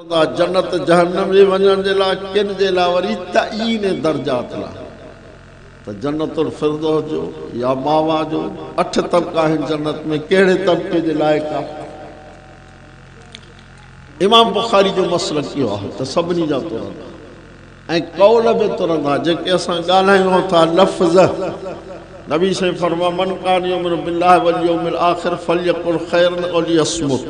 سدا جنت جهنم جي وڃڻ جي لاء ڪن جي لاء وري تعين درجات لاء ته جنت الفردوس جو يا ماوا جو اٺ طبقا آهن جنت ۾ ڪهڙي طبقي جي لائق آهي امام بخاري جو مسئلو ڪيو آهي ته سڀني جا ترندا ۽ قول به ترندا جيڪي اسان ڳالهايون ٿا لفظ نبي سائين فرما من کان يوم بالله واليوم الاخر فليقل خيرا وليصمت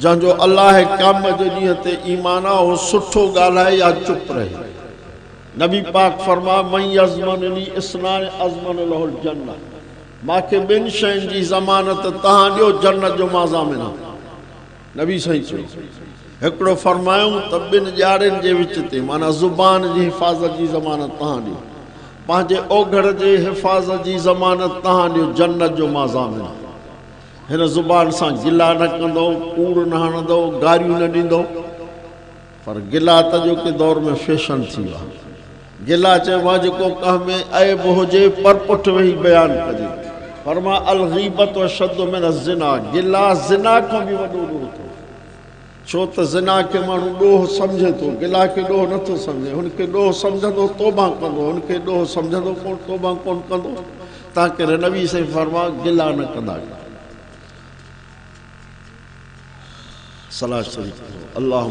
جنهن جو الله قيامت جي ڏينهن تي ايمان آ اهو سٺو ڳالهائي يا چپ رهي. نبي پاڪ فرمايو، من يضمن لي اثنان اضمن له الجنة مان کي ٻن شين جي ضمانت تهان ڏيو جنت جو مان ضامن آهيان. نبي سائين چيو هڪڙو فرمايائون ته ٻن ڄاڙين جي وچ تي معنيٰ زبان جي حفاظت جي ضمانت تهان ڏيو پنهنجي اوگهڙ جي حفاظت جي ضمانت تهان ڏيو جنت جو مان ضامن آهيان. هن زبان سان گلا نه ڪندو، ڪوڙ نه هڻندو، گاريون نه ڏيندو. پر گلا ته اڄوڪي دور ۾ فيشن ٿي ويو آهي. گلا چئبو آهي جيڪو ڪنهن ۾ عيب هجي پر پٺ ويهي بيان ڪجي. فرمان الغيبة اشد من الزنا، گلا زنا کان به وڏو ڏوهه اٿو. ڇو ته زنا کي ماڻهو ڏوهه سمجهي ٿو، گلا کي ڏوهه نه ٿو سمجهي، هن کي ڏوهه سمجهندو توبه ڪندو، هن کي ڏوهه سمجهندو ڪونه توبه ڪونه ڪندو، تنهنڪري نبي سائين فرمايو گلا نه ڪندا ڪيو. صلاح شريف پڙهو، اللهم.